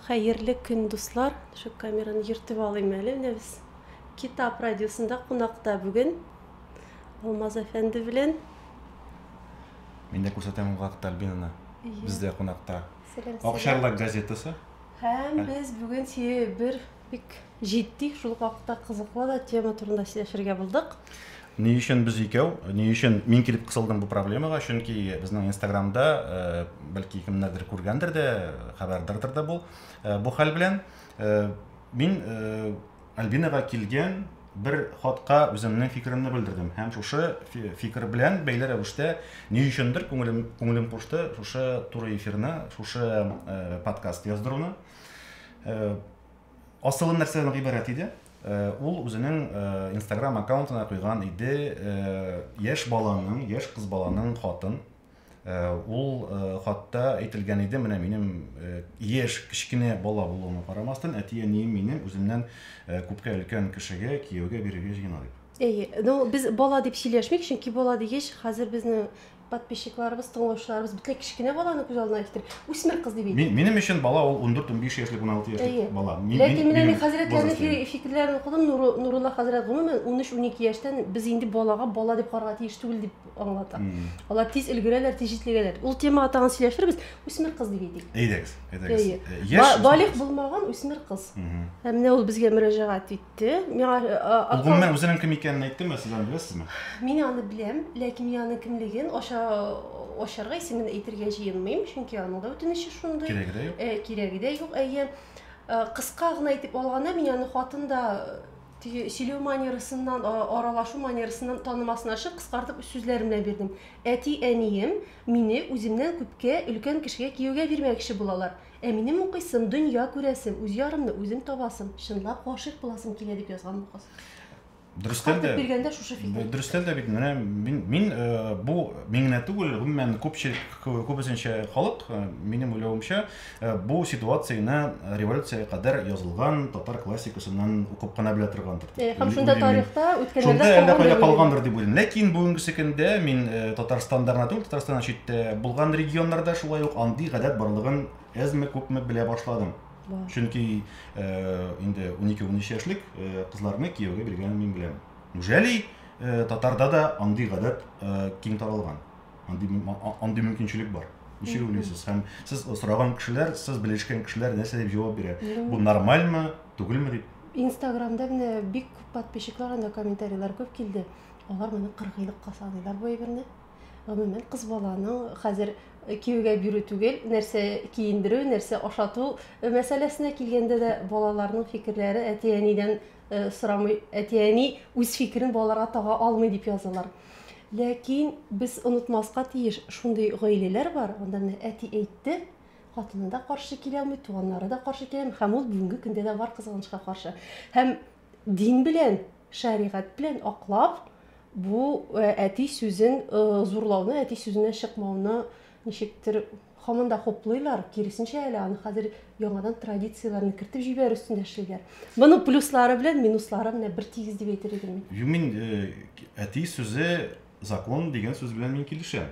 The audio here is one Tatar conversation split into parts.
Хәерле көн дуслар! Шук камераны йөртеп алыйм әле, менә без Китап радиосында кунакта бүген Алмаз әфәнде белән. Мин дә күрсәтәм ул вакытта Альбинаны. Бездә кунакта Акчарлак газетасы. Һәм без бүген бер Бик җитди, шул ук вакытта кызыклы да тема турында сөйләшергә булдык. Ни өчен без икәү? Ни өчен мин килеп кысылдым бу проблемага? Чөнки безнең Инстаграмда, э, бәлки кемнәрдер күргәндер дә, хәбәрдардыр да бу, э, бу хәл белән. Э, мин Альбинага килгән бер хатка үземнең фикеремне белдердем һәм шушы фикер белән бәйле рәвештә ни өчендер күңелем күңелем кушты шушы туры эфирны шушы подкаст яздыруны Э, Асылын нәрсәдән гыйбарәт иде? Э, ул үзенең э, инстаграм аккаунтына куйган иде э, яшь баланың яшь кыз баланың хатын ул хатта әйтелгән иде менә минем яшь кечкенә бала булуыма карамастан әти әнием мине үземнән күпкә өлкән кешегә кияүгә бирергә җыена дип әйе ну без бала дип сөйләшмик чөнки бала дигәч хәзер безнең Подписчикларыбыз, тыңлаучыларыбыз бөтенләй кечкенә баланы күз алдына китереп, үсмер кыз дип әйтә. Минем өчен бала ул 14-15 яшьлек, 16 яшьлек бала. Ләкин менә мин хәзрәтләрнең фикерләрен укыдым, Нурулла хәзрәт гомумән 13-12 яшьтән без инде балага бала дип карарга тиеш түгел дип аңлата. Алар тиз өлгерәләр, тиз җитлегәләр. Ул темага тагын сөйләшербез. Үсмер кыз дип әйтик. Әйдәгез, әйдәгез. Балигъ булмаган үсмер кыз. Һәм менә ул безгә мөрәҗәгать итте. Те, миңа э, а- Ул акыл- гомумән үзенең икәнен әйттеме, сез аны беләсезме? Мин аны беләм, ләкин мин аның кемлеген аша ашарга исемен әйтергә җыенмыйм, чөнки аның да үтенече шундый. Кирәге дә юк. Э, кирәге дә юк, әйе. Э, Кыска гына әйтеп алганда, мин аны хатын да э, теге сөйләү манерасыннан, а- аралашу манерасыннан танымасын ачып, кыскартып сүзләрем белән бирдем. Әти-әнием мине үземнән күпкә өлкән кешегә кияүгә бирмәкче булалар. Ә минем укыйсым, дөнья күрәсем, үз ярымны үзем табасым, чынлап гашыйк буласым килә, дип язган бу кыз. Дөрестән дә биргәндә шушы фикер. Дөрестән дә бит менә мин, мин э, бу мин генә түгел, гомумән күпчелек күбесенчә халык, э, минем уйлавымча, э, бу ситуацияне революциягә кадәр язылган татар классикасыннан укып кына белә торган Э, һәм шунда тарихта үткәннәрдә шунда әллә кайда калгандыр дип уйлыйм ләкин бүгенгесе көндә мин э, татарстанда гына түгел татарстаннан читтә булган регионнарда шулай ук андый гадәт барлыгын әзме күпме белә башладым чөнки э, инде унике унөч яшьлек кызларны кияүгә биргәнен мин беләм неужели татарда да андый гадәт киң таралган андый андый мөмкинчелек бар ничек уйлыйсыз һәм сез сораган кешеләр сез белешкән кешеләр нәрсә дип җавап бирә бу нормальмы түгелме дип Инстаграмда менә бик күп подписчиклар анда комментарийлар күп килде. Алар моны кыргыйлыкка саныйлар бу әйберне. Гомумән кыз баланың хәзер киюгә бирү түгел, нәрсә киендерү, нәрсә ашату мәсьәләсенә килгәндә дә балаларның фикерләре әти-әнидән сорамый, әти-әни үз фикерен балаларга тага алмый дип язалар. Ләкин без онытмаска тиеш, шундый гаиләләр бар, анда менә әти әйтте, Хатыны да каршы килә алмый, туганнары да каршы килә алмый. Һәм ул бүгенге көндә дә бар кызганычка каршы. Һәм дин белән, шәригать белән аклап, бу э, әти сүзен э, зурлауны, әти сүзенә чыкмауны ничектер һаман да хуплыйлар. Киресенчә әле аны хәзер яңадан традицияләрне кертеп җибәрү өстендә эшлиләр. Моның плюслары белән минуслары менә бер тигез дип әйтер идем мин. Юмин э, әти сүзе закон дигән сүз белән мин килешәм.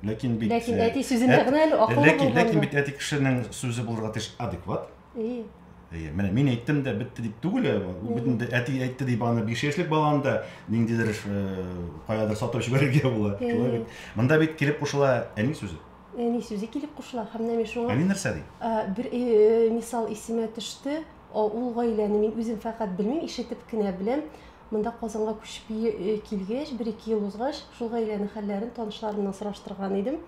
Ләкин бит Ләкин э, әти сүзендә генә әле акыллы ләкин, булган. Ләкин бит әти кешенең сүзе булырга тиеш адекват. Әйе. Әйе, менә мин әйттем дә бетте дип түгел, э, бөтен әти әйтте дип аны 5 яшьлек баланы да ниндидер э, каядыр сатып җибәрергә була. Шулай бит. Монда бит килеп кушыла әни сүзе. Әни сүзе килеп кушыла һәм менә шуңа. Әни нәрсә ди? Бер мисал исемә төште. Ул гаиләне мин үзем фәкать белмим, ишетеп кенә беләм. Монда Казанга күчеп килгәч, бер-ике ел узгач, шул гаиләнең хәлләрен танышларымнан сораштырган идем.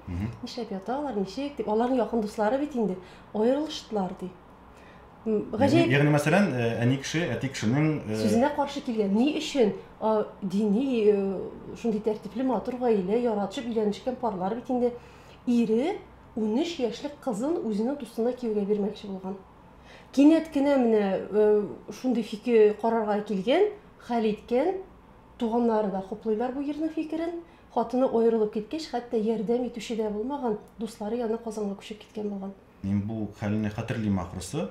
Нишләп ята алар, ничек дип. Аларның якын дуслары бит инде аерылыштылар, ди. Гаҗәеп. Ягъни, мәсәлән, э, әни кеше, әти кешенең э, сүзенә каршы килгән. Ни өчен дини э, шундый тәртипле, матур гаилә, яратышып өйләнешкән парлар бит инде ире 13 яшьлек кызын үзенең дустына кияүгә бирмәкче булган. Кинәт кенә менә э, шундый фикер карарга килгән, хәл иткән. Туганнары да хуплыйлар бу ирнең фикерен. Хатыны аерылып киткәч, хәтта ярдәм итүче дә булмаган, дуслары янына Казанга күчеп киткән булган. Мин бу хәлне хәтерлим ахрысы.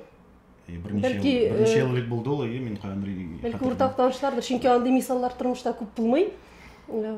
И, Берничә Бәлки, ел, берничә э, ел элек булды ул, и, мин каян белим, Бәлки хәтерлим. уртак танышлардыр, чөнки андый мисаллар тормышта күп булмый. Э,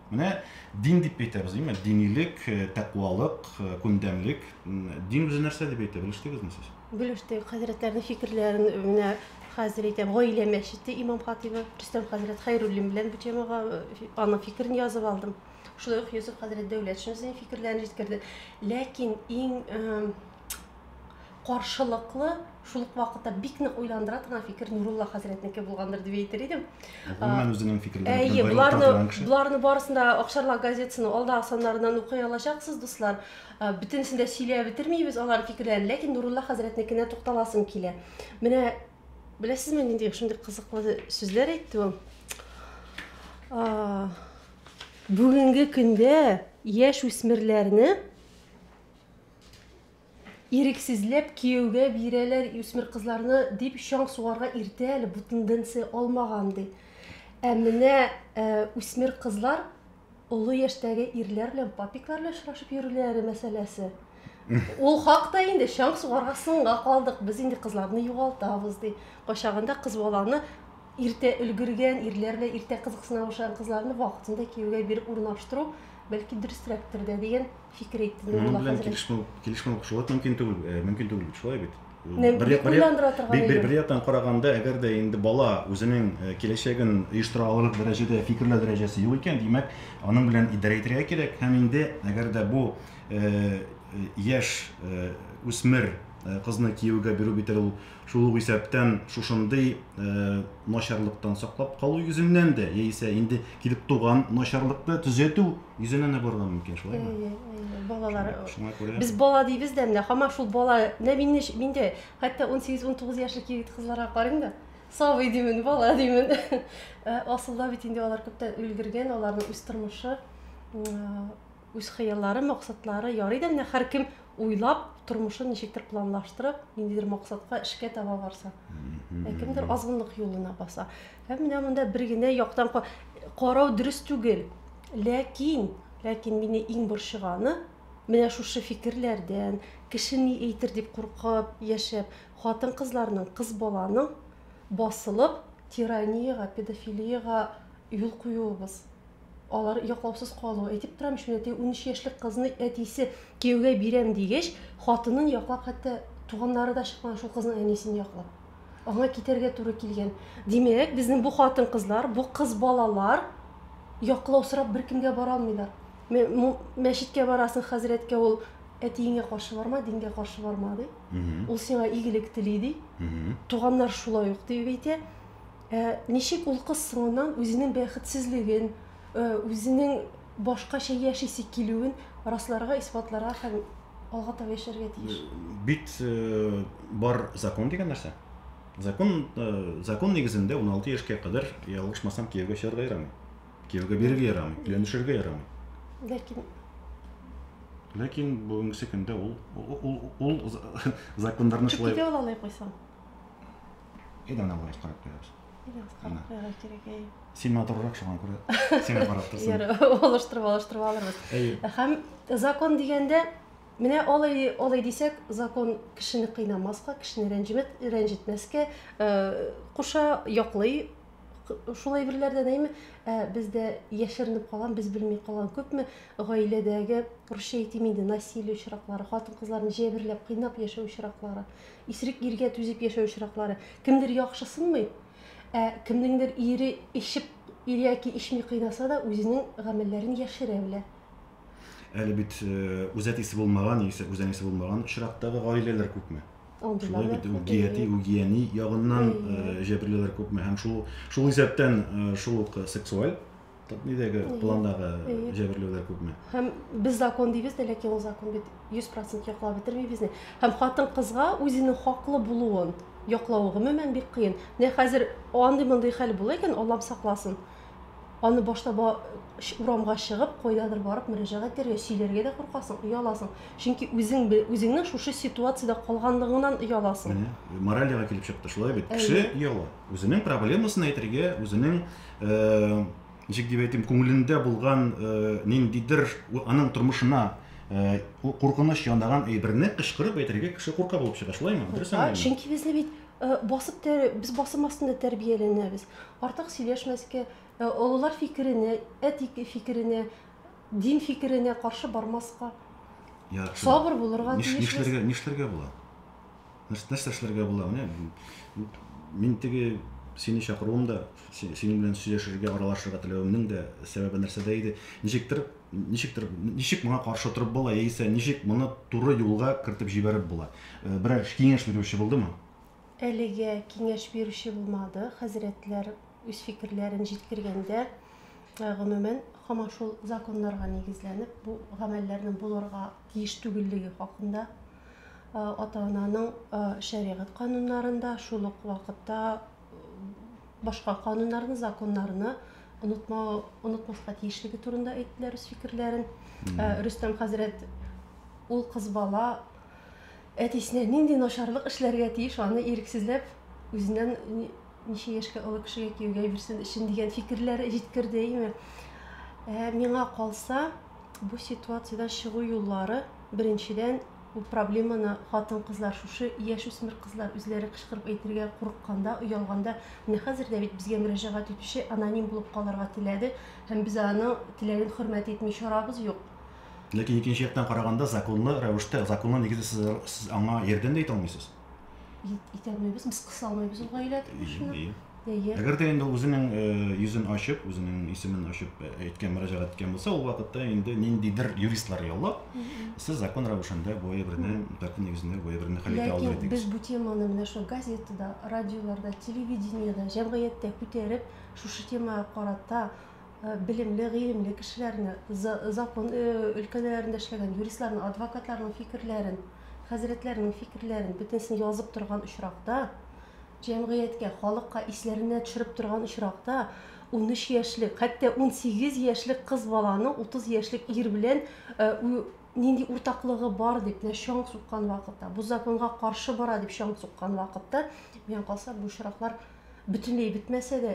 Менә дин дип әйтәбез, димме? Динилек, тәкъвалык, күндәмлек. Дин үзе нәрсә дип әйтә, белештегезме сез? Белештек. Хәзрәтләрнең фикерләрен менә хәзер әйтәм, гаилә мәчете имам-хатыйбы Рөстәм хәзрәт Хәйруллин белән бу темага аның фикерен язып алдым. Шулай ук Йосыф хәзрәт Дәүләтшин үзенең фикерләрен җиткерде. Ләкин иң каршылыклы, шул ук вакытта бик нык уйландыра торган фикер Нурулла хәзрәтнеке булгандыр дип әйтер идем. Гомумән үзенең фикерләре Әйе, боларны, боларны барысын да Акшарлак газетасының алдагы саннарыннан укый алачаксыз, дуслар. Бөтенесен дә сөйләп бетермибез алар фикерләрен, ләкин Нурулла хәзрәтнекенә тукталасым килә. Менә беләсезме, нинди шундый кызыклы сүзләр әйтте ул? Бүгенге көндә яшь үсмерләрне Ирексезләп кияүгә бирәләр үсмер кызларны дип чаң сугарга иртә әле, бу тенденция алмаган ди. Ә менә э, үсмер кызлар олы яшьтәге ирләр белән папиклар белән очрашып йөрүләре мәсьәләсе. Ул хакта инде чаң сугарга соңга калдык. Без инде кызларны югалтабыз ди. Кайчагында кыз баланы иртә өлгергән, ирләр белән иртә кызыксына башлаган кызларны вакытында кияүгә биреп урнаштыру бәлки дөресрәктер дә дигән фикер әйтте. Моның белән килешмәү, килешмәү шулай мөмкин түгел, э, мөмкин түгел бит, шулай бит. Бер яктан караганда, әгәр дә инде бала үзенең э, киләчәген оештыра алырлык дәрәҗәдә фикерләү дәрәҗәсе юк икән, димәк, аның белән идарә итәргә кирәк. Һәм инде әгәр дә бу э, яшь үсмер кызны кияүгә бирү бит ул Шул ук исәптән шушындый начарлыктан саклап калу йөзеннән дә, яисә инде килеп туган начарлыкны төзәтү йөзеннән дә барырга мөмкин, шулаймы? Балалар. Шуңа күрә. Без бала дибез дә менә һаман шул бала. Менә мине миндә хәтта 18-19 яшьлек егет кызларга карыйм да, сабый димен, бала димен. Асылда бит инде алар күптән өлгергән, аларның үз тормышы. Үз хыяллары, максатлары, ярый да менә һәркем уйлап, тормышын ничектер планлаштырып, ниндидер максатка, эшкә таба барса. Ә кемдер азгынлык юлына баса. Һәм менә монда бер генә яктан карау дөрес түгел. Ләкин, ләкин мине иң борчыганы, менә шушы фикерләрдән, кеше ни әйтер дип куркып яшәп, хатын-кызларның, кыз баланың басылып, тираниягә, педофилиягә юл куюыбыз. алар яклаусыз калу. Әйтеп торам шуны, теге 13 яшьлек кызны әтисе кияүгә бирәм дигәч, хатынын яклап хәтта туганнары да чыкмаган шул кызның әнисен яклап. Аңа китәргә туры килгән. Димәк, безнең бу хатын-кызлар, бу кыз балалар яклау сорап беркемгә бара алмыйлар. Мәчеткә барасың хәзрәткә, ул әтиеңә каршы барма, дингә каршы барма ди. Ул сиңа игелек тели ди. Туганнар шулай ук дип әйтә. Ә ничек ул кыз соңыннан үзенең бәхетсезлеген, үзенең башкача яшисе килүен расларга, исбатларга һәм алга таба яшәргә тиеш? Бит бар закон дигән нәрсә. Закон закон нигезендә 16 яшькә кадәр ялгышмасам кияүгә чыгарга ярамый. Кияүгә бирергә ярамый, өйләнешергә ярамый. Ләкин Ләкин бүгенгесе көндә ул ул ул законнарны шулай. Чүкидә ала алай куйсаң. Әйдә ана бераз карап куябыз. Бераз карап куярга кирәк, әй. Син матуррак шуңа күрә. Сиңа карап торсын. Яра, алыштырып, алыштырып алырбыз. Һәм закон дигәндә Менә алай алай дисәк, закон кешене кыйнамаска, кешене рәнҗемәт, рәнҗетмәскә э, куша, яклый шулай берләрдән әйме ә бездә яшеренеп калган без белми калган күпме гаиләдәге русча әйтим инде насилие очраклары хатын кызларны җәберләп кыйнап яшәү очраклары Исерек иргә түзеп яшәү очраклары. Кемдер яхшысынмый, ә кемнеңдер ире эчеп ир яки эчми кыйнаса да, үзенең гамәлләрен яшерә белә. Әле бит үзәт исе булмаган яисә үзән исе булмаган очрактагы гаиләләр күпме? Шулай бит үгияти, үгияни ягыннан җәберлеләр күпме? Һәм шул шул исәптән шул ук сексуаль Нидәге пландагы җәберләүләр күпме? Һәм без закон дибез дә, ләкин ул закон бит 100% яклап бетермибез ни. Һәм хатын кызга үзенең хаклы булуын яклавы гомумән бик кыен. Менә хәзер андый мондый хәл була икән, Аллам сакласын. Аны башта ба, урамга чыгып, кайдадыр барып мөрәҗәгать итәргә, сөйләргә дә куркасың, ояласың. Чөнки үзең үзеңнең шушы ситуациядә калганлыгыңнан ояласың. Менә моралига килеп чыкты, шулай бит. Кеше ояла. Үзенең проблемасын әйтергә, үзенең, ничек дип әйтим, күңелендә булган ниндидер аның тормышына куркыныч янаган әйберне кычкырып әйтергә кеше курка булып чыга, шулаймы? Дөрес аңлыймы? Чөнки безне бит басып без басым астында тәрбияләнәбез. Артык сөйләшмәскә, олылар фикеренә, әти фикеренә, дин фикеренә каршы бармаска. Яхшы. Сабыр булырга тиешбез. Нишләргә, нишләргә була? нәрсә, нәрсә эшләргә була менә мин теге сине чакыруым да синең белән сөйләшергә аралашырга теләвемнең дә сәбәбе нәрсәдә иде ничектер ничектер ничек моңа каршы торып була яисә ничек моны туры юлга кертеп җибәреп була э, берәр киңәш бирүче булдымы әлегә киңәш бирүче булмады хәзрәтләр үз фикерләрен җиткергәндә э, гомумән һаман шул законнарга нигезләнеп бу гамәлләрнең булырга тиеш түгеллеге хакында ата-ананың шәригать кануннарында, шул ук вакытта башка кануннарны, законнарны онытма, онытмаска тиешлеге турында әйттеләр үз фикерләрен. Рөстәм хәзрәт ул кыз бала әтисенә нинди начарлык эшләргә тиеш, аны ирексезләп үзеннән ничә яшькә олы кешегә кияүгә бирсен өчен дигән фикерләр җиткерде име. Ә миңа калса, Бу ситуациядән чыгу юллары, беренчедән, бу проблеманы хатын-кызлар, шушы яшүсмер кызлар үзләре кычкырып әйтергә курыкканда, оялганда, менә хәзер дә бит безгә мөрәҗәгать итүче аноним булып калырга теләде, һәм без аның теләген хөрмәт итми чарабыз юк. Ләкин икенче яктан караганда, законлы рәвештә, законлы нигездә сез аңа ярдәм дә итә алмыйсыз. Итә алмыйбыз, без кыса алмыйбыз ул гаилә тормышына. Әгәр дә инде үзенең э, йөзен ачып, үзенең исемен ачып э, әйткән мөрәҗәгать иткән булса, ул вакытта инде ниндидер юристлар яллап, сез закон рәвешендә бу әйберне, тәртип нигезендә бу әйберне хәл итә алыр идегез. Без бу теманы менә шул газетада, радиоларда, телевидениедә, җәмгыятьтә күтәреп, шушы темага карата Белемле, гыйлемле кешеләрне, закон өлкәләрендә эшләгән юристларны, адвокатларның фикерләрен, хәзрәтләрнең фикерләрен бөтенесен язып торган очракта, җәмгыятькә, халыкка исләренә төшереп торган очракта, 13 яшьлек, хәтта 18 яшьлек кыз баланың 30 яшьлек ир белән нинди уртаклыгы бар дип менә чаң суккан вакытта, бу законга каршы бара дип чаң суккан вакытта, миңа калса, бу очраклар бөтенләй бетмәсә дә,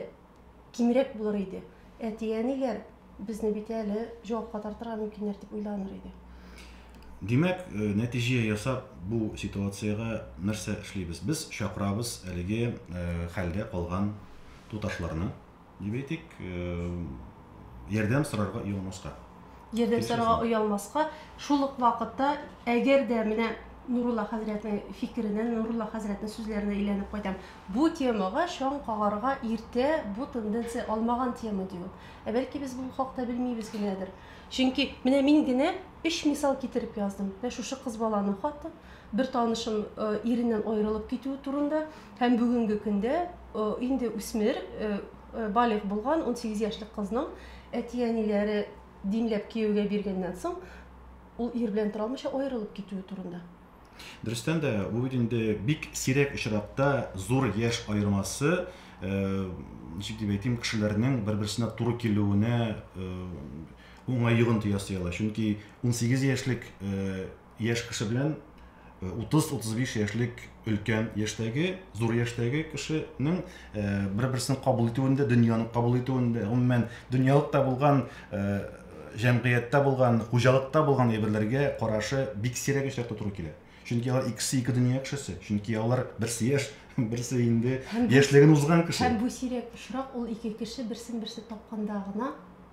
кимрәк булыр иде. Әти-әниләр безне бит әле җавапка тартырга мөмкиннәр дип уйланыр иде. Димәк, э, нәтиҗә ясап, бу ситуациягә нәрсә эшлибез? Без чакырабыз әлеге э, хәлдә калган туташларны, дип әйтик, э, ярдәм сорарга юлмаска. Җирдән сорарга оялмаска, шул ук вакытта, әгәр дә менә Нурулла хәзрәтнең фикеренә, Нурулла хәзрәтнең сүзләренә әйләнеп кайтам. Бу темага чаң кагарга иртә, бу тенденция алмаган тема, ди ул. Ә бәлки без бу хакта белмибез генәдер. Чөнки менә мин генә өч мисал китереп яздым. Менә шушы кыз баланың хаты, бер танышым э, иреннән аерылып китүе турында, Һәм бүгенге көндә инде үсмер, балигъ булган унсигез яшьлек кызның әти-әниләре димләп кияүгә биргәннән соң, ул ир белән тора алмыйча аерылып китүе турында. Дөрестән дә, бу бит инде бик сирәк очракта зур яшь аермасы, ничек дип әйтим, кешеләрнең бер-берсенә туры килүенә уңай йогынты ясый ала. Чөнки унсигез яшьлек Яшь кеше белән 30-35 яшьлек өлкән яшьтәге, зур яшьтәге кешенең бер-берсен кабул итүендә, дөньяны кабул итүендә, гомумән дөньялыкта булган җәмгыятьтә булган, хуҗалыкта булган әйберләргә карашы бик сирәк очракта туры килә. Чөнки алар икесе ике дөнья кешесе. Чөнки алар берсе яшь, берсе инде яшьлеген узган кеше. Һәм бу сирәк очрак ул ике кеше берсен-берсе тапканда гына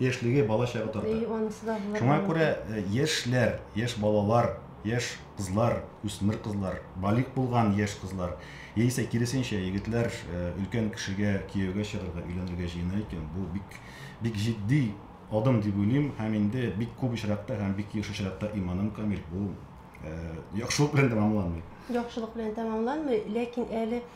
яшьлеге, бала чагы тарта. Әйе, анысы да булырга Шуңа күрә мөмкин. э, яшьләр, яшь балалар, яшь кызлар, үсмер кызлар, балигъ булган яшь кызлар, яисә киресенчә, егетләр э, өлкән кешегә кияүгә чыгарга, өйләнергә җыена икән, бу бик, бик җитди адым дип уйлыйм һәм инде бик күп очракта һәм бик еш очракта иманым камил, бу э, яхшылык белән тәмамланмый. Яхшылык белән тәмамланмый, ләкин әле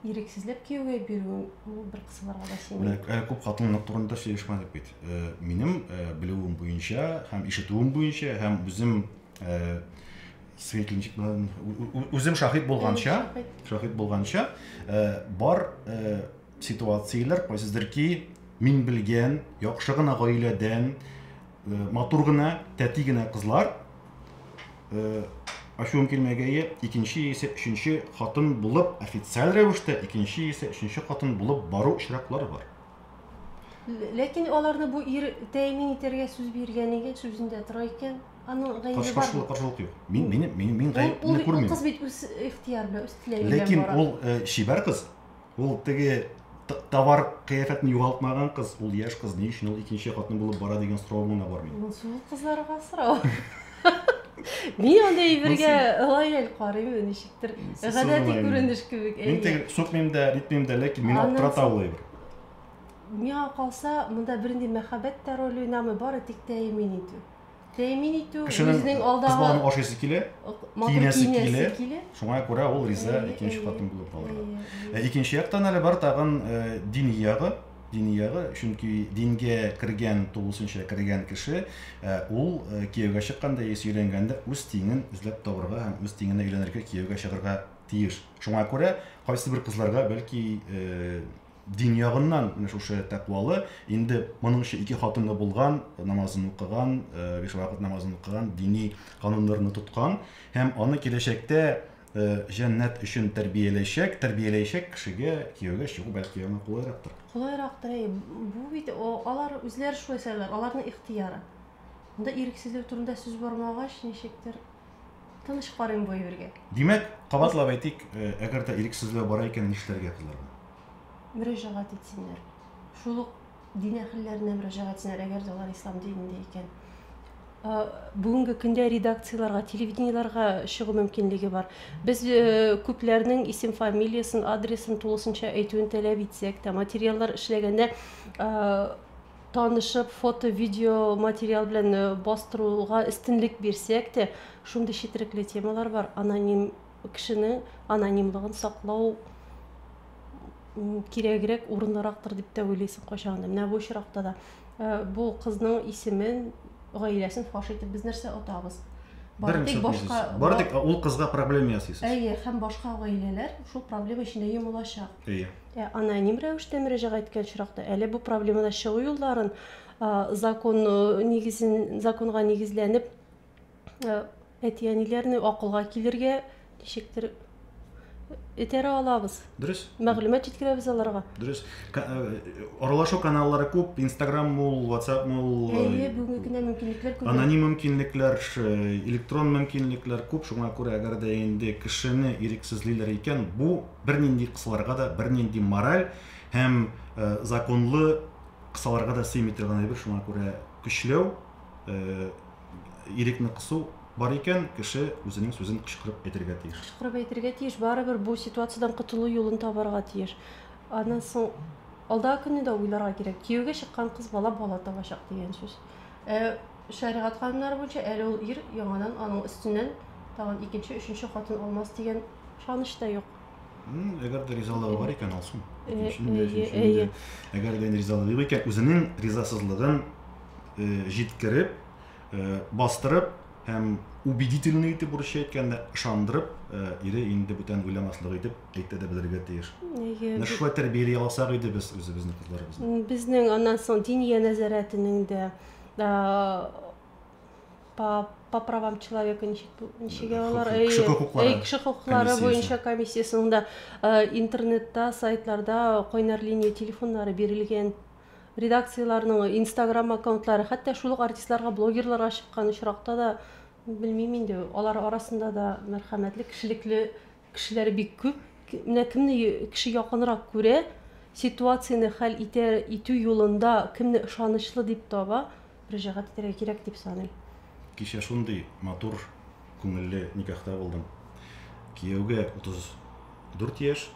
Ирексезләп кияүгә бирү ул бер кысаларга да сыймый. Менә әле күп хатынлык турында сөйләшмәдек бит. Э, минем э, белүем буенча һәм ишетүем буенча һәм үзем э, свидетельничек белән үзем шаһит булганча, шаһит булганча бар ситуацияләр кайсыдыр ки мин белгән яхшы гына гаиләдән матур гына тәти генә кызлар ачуым килмәгәе икенче яисә өченче хатын булып официаль рәвештә икенче яисә өченче хатын булып бару очраклары бар ләкин аларны бу ир тәэмин итәргә сүз биргән икән сүзендә тора икән аның гаебе бар каршылык юк мин мин мин мин гаебемне күрмим кыз бит үз ихтыяр белән үз теләге белән ләкин ул чибәр кыз Ул теге товар кыяфәтен югалтмаган кыз, ул яшь кыз, ни өчен ул икенче хатын булып бара дигән сорау гына бар минем. Ул сул кызларга сорау. Ни анда ибергә лояль карыймы, ничектер. Гадәти күренеш кебек. Мин теге сукмыйм да, ритмим да, ләкин мин аптырата ул әйбер. Миңа калса, монда бернинди мәхәббәт тә роль уйнамый, бары тик тәэмин итү. тәэмин итү, Кешенең үзенең алдагы... Кыз баланы ашыйсы килә, киенәсе килә. килә. Шуңа күрә ул риза икенче хатын булып калырга. Ә икенче яктан әле бар тагын дини ягы, дини ягы, чөнки дингә кергән, тулысынча кергән кеше, ул кияүгә чыкканда яисә өйләнгәндә үз тиңен эзләп табырга һәм үз тиңенә өйләнергә, кияүгә чыгарга тиеш. Шуңа күрә кайсы бер кызларга бәлки дин ягыннан менә шушы тәкъвалы, инде моның өчен ике хатыны булган, намазын укыган, биш вакыт намазын укыган, дини кануннарны тоткан һәм аны киләчәктә җәннәт өчен тәрбияләячәк, тәрбияләячәк кешегә кияүгә чыгу бәлки яңа кулайрактыр. Кулайрактыр, әй, бу бит алар үзләре шулай сайлар, аларның ихтыяры. Монда ирексезлек турында сүз бармагач, ничектер Тыныч карыйм бу әйбергә. Димәк, кабатлап әйтик, э, әгәр дә ирексезләү бара икән, нишләргә кызларга? Мөрәҗәгать итсеннәр. Шул ук дин әһелләренә мөрәҗәгать итсеннәр, әгәр дә алар ислам динендә икән. Э, бүгенге көндә редакцияләргә, телевидениеләргә чыгу мөмкинлеге бар. Без э, күпләрнең исем фамилиясен, адресын тулысынча әйтүен таләп итсәк тә, материаллар эшләгәндә э, танышып, фото, видео материал белән э, бастыруга өстенлек бирсәк тә, шундый четерекле темалар бар, аноним кешенең анонимлыгын саклау кирәгрәк, урынлырактыр дип тә уйлыйсың кайчагында. Менә бу очракта да э, бу кызның исемен, гаиләсен фаш итеп без нәрсә отабыз? Бары тик башка бары тик ул кызга проблема ясыйсыз. Әйе, һәм башка гаиләләр шул проблема эчендә йомылачак. Әйе. Ә аноним рәвештә мөрәҗәгать иткән очракта әле бу проблемадан чыгу юлларын закон нигезен законга нигезләнеп әти-әниләрне акылга килергә ничектер этәрә алабыз. Дөрес. Мәгълүмат җиткерәбез аларга. Дөрес. Аралашу каналлары күп, Instagram мул, WhatsApp мул. Әйе, бүгенге көндә мөмкинлекләр күп. Аноним мөмкинлекләр, электрон мөмкинлекләр күп, шуңа күрә әгәр дә инде кешене ирексезлиләр икән, бу Бернинди кысаларга да, бернинди мораль һәм законлы кысаларга да сыймый торган әйбер, шуңа күрә көчләү, ирекне кысу бар икән, кеше үзенең сүзен кычкырып әйтергә тиеш. Кычкырып әйтергә тиеш, барыбер бу ситуациядән котылу юлын табарга тиеш. Аннан соң алдагы көнне дә уйларга кирәк. Кияүгә чыккан кыз бала бала табачак дигән сүз. Ә Шәригать кануннары буенча, әле ул ир яңадан аның өстеннән тагын икенче, өченче хатын алмас дигән ышаныч та юк. Әгәр дә ризалыгы бар икән, алсын. Әйе. Әгәр дә ризалыгы юк икән, үзенең ризасызлыгын җиткереп, бастырып һәм убедительный итеп урысча әйткәндә ышандырып, ире инде бүтән уйламаслык итеп әйтә дә белергә тиеш. Менә шулай тәрбияли алсак иде без үзебезнең кызларыбызны. Безнең аннан соң диния нәзарәтенең дә Ә, по, по правам человека ничек, ничек алар? Кеше хокуклары. Әй, кеше хокуклары буенча комиссиясенең дә интернетта, сайтларда кайнар линия телефоннары бирелгән редакцияләрнең инстаграм аккаунтлары хәтта шул ук артистларга блогерларга чыккан очракта да белмим инде алар арасында да мәрхәмәтле кешелекле Кешеләр бик күп, менә кемне кеше якынрак күрә, ситуацияне хәл итә, итү юлында кемне ышанычлы дип таба, мөрәҗәгать итәргә кирәк дип саныйм. Кичә шундый матур, күңелле никахта булдым. Кияүгә 34 яшь,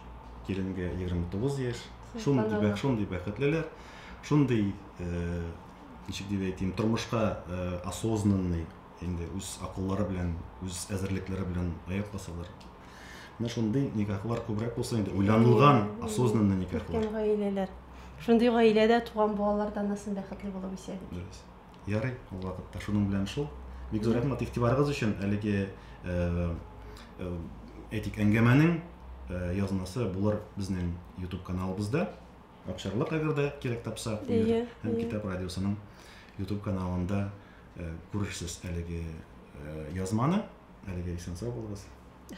киленгә 29 яшь. Шундый бәх, шундый бәхетлеләр, шундый, ничек дип әйтим, тормышка осознанный. инде үз акыллары белән, үз әзерлекләре белән аяк басалар. Менә шундый никахлар күбрәк булса инде, уйланылган, осознанный никахлар. Өлкән гаиләләр. Шундый гаиләдә туган балалар да аннан бәхетле булып үсә бит. Дөрес. Ярый, ул вакытта шуның белән шул. Бик зур рәхмәт игътибарыгыз өчен. Әлеге э, э, әйтик, әңгәмәнең э, язмасы булыр безнең YouTube каналыбызда. Акчарлык әгәр дә кирәк тапса, һәм китап радиосының YouTube каналында Э, күрерсез әлеге э, язманы әлеге исән сау булыгыз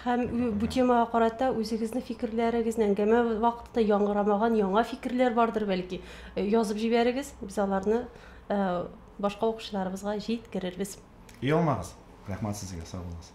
һәм бу темага карата үзегезнең фикерләрегезне әңгәмә вакытында яңгырамаган яңа фикерләр бардыр бәлки э, язып җибәрегез без аларны башка укучыларыбызга җиткерербез ия алмагыз рәхмәт сезгә сау булыгыз